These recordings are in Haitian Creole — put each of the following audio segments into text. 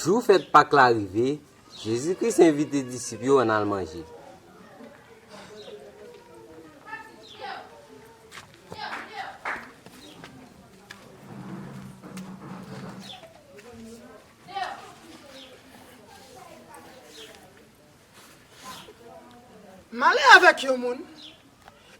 Jou fèt Pak la rive, Jezi Kris envite disip yo ann al manje. M ale avèk yon moun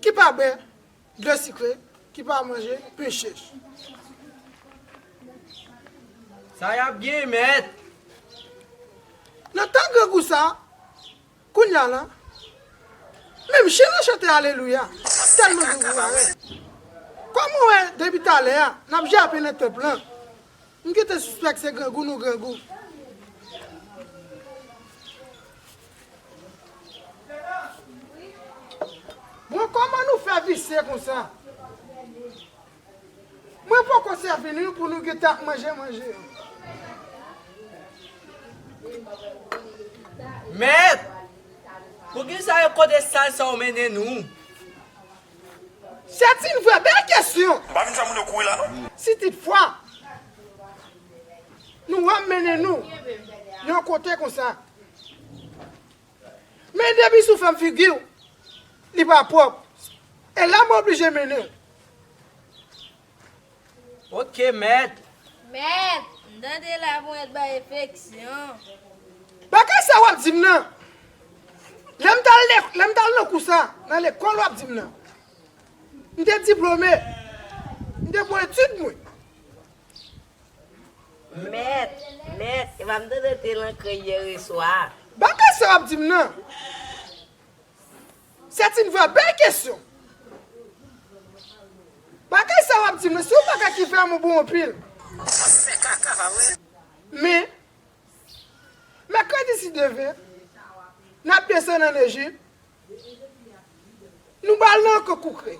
ki pa bwè dlo sikre, ki pa manje pen chèch. Sa yap gen mèt? Nan tan grangou sa, kounya la, menm chen lan chante alelouya, tèlman grangou parèt. Kòm ou wè depi talè a, n ap jape nan tanp lan, M gentan sispèk se grangou nou grangou. Bon kòman nou fè visye konsa. Mwen poko sèvi nou pou nou gentan ap manje manje yo. Mèt! Poukisa yo kote sal sa ou mennen nou? Sèt yn vrè bèl kesyon. M pa vin fè moun yo kouri la non. Si tit fwa Nou wèm mennen Nou Yon kote konsa Men depi sou fèm figiw Li pa pwòp E la m oblije mennenl. Ok mèt. Mèt, m tande la pou mèt bay efeksyon. Bagay sa wap dim nan. Lèm tal lèm tal nan kou sa nan lekòl wap dim nan. M te diplome. M te pou etid mwen. Mèt, mèt, epa m tande w te lan krèy yèreswa. Bagay sa wap dim nan. C'est une vraie belle question! Bagay sa wap di mwen se yon bagay ki vrèman bon anpil. Wap fè kaka pa vre. Men, mèkredi si Dye vle, nap desann an Ejip, nou bal nan anko koukre.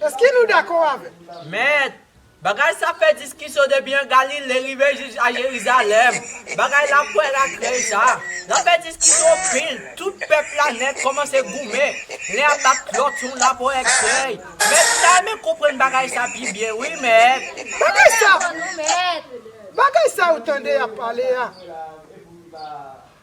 Eske nou dakò avèm? Mèt, Bagay sa fè diskisyon depi an Galile rive jis a Jerizalèm. Bagay la pwèl ak rèy sa. L'ap fè diskisyon anpil. Tout pèp la nèt kòmanse goumen. Len ap bat lòt yon lapò èk sèy. Mèt sa men konprann bagay sa pi byen wi mèt. Bagay sa pou nou mèt. Bagay sa ou tande y'ap pale a.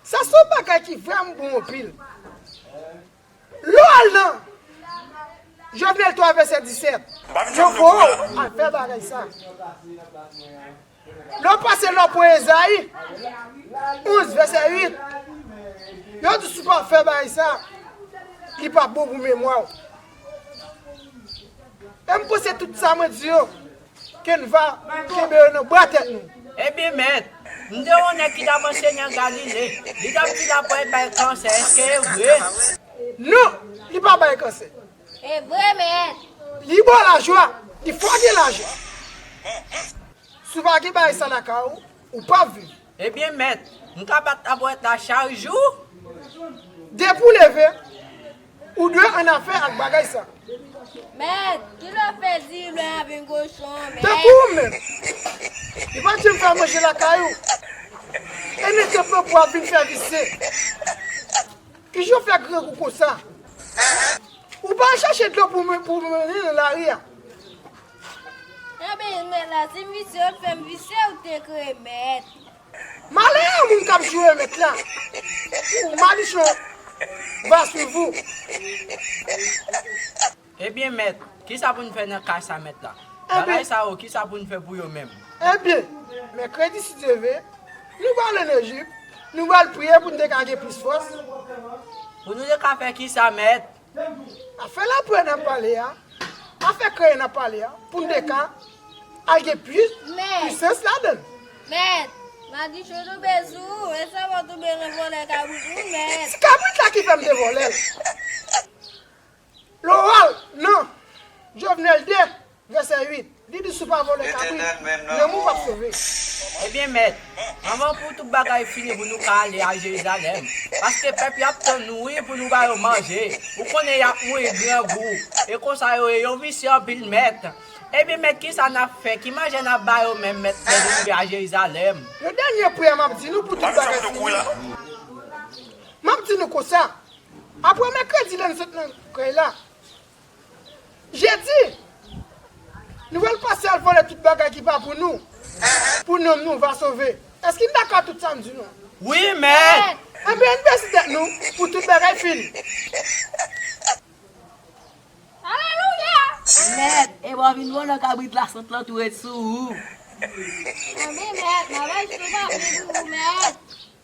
Sa son bagay ki vrèmn bon anpil. Lè w al nan. Jovenel 3 vèsè 17. Yo bo w al fè bagay sa. Lè w pase lò pwen Ezayi 11 vèsè 8. Yo di si w pa fè bagay sa. Li pa bon pou memwa w. E m panse tout sa mwen di yo. Kenva kenbe yo nan bra tèt nou. Ebyen mèt, m te wè yon nèg ki t ap anseye nan Galile. Li t ap di lapwèy bay kansè, èske e vre? Non, li pa bay kansè. E vre mèt. Li bon lajwa, li fò gen lajan. Si w pa gen bagay sa lakay ou, ou p ap viv. Ebyen mèt, m ka bat tabouret la chak jou? Depi w leve, ou dwe annafè ak bagay sa. Mèt, ki lè w fè di w lè a vin kochon, mèt? Tankou ou menm, li pa t janm fè manje lakay ou, e nèg yo pran pou w ap vin fè visye. Ki jan w fè grangou konsa? Ou pa al chache dlo pou w mwen nan lari a? Mwen beni men la ti misye ou t fem visye ou t k remet. Malè a moun kap jou remet la pou madichon va swiv ou. Ebyen mèt, kisa pou n fè nan ka sa mèt la? Bagay sa yo kisa pou n fè pou yo menm? Ebyen, mèkredi si Dye ve, nou pral al an Ejip, nou pral priye pou nou te ka gen plis fòs. Pou nou te ka fè kisa mèt? Afè lapè nap pale a, afè kreye nap pale a pou n te ka al gen plis pisans ladan l. Mèt, madichon toube sou ou, e sa wap toube nan vòlè kabrit ou mèt. Se kabrit la ki fè m te vòlè l. Loral, nan. Jovenel 2, Vèsè 8, li di si w pa vòlè kabrit, lanmou p ap sove. Ebyen, Mèt, anvan pou tout bagay fini pou nou ka ale a Jerizalèm, paske pèp yo ap tann nou wi pou nou ba yo manje, ou konnen y ap mouri grangou, e konsa yo ye yo visye anpil. Mèt, Ebyen, Mèt, kisa n ap fè? Ki manje n ap ba yo menm, Mèt, lè nou rive a Jerizalèm? Yon dènye priyè m ap di nou pou tout bagay fini. M ap di nou konsa, apre mèkredi lè n sot nan krèy la, Jedi! Nou pral pase al vòlè tout bagay ki pa pou nou, pou nanm nou va sove. Èske n dakò ak tout sa m di nou an? Wi, mèt! Anben, ann bese tèt nou pou tout bagay fini. Alelouya! Mèt, e wap vin vòlò kabrit la sant lan tou ret sou ou. Anben, mèt, m ap achte yon papye pou ou, mèt.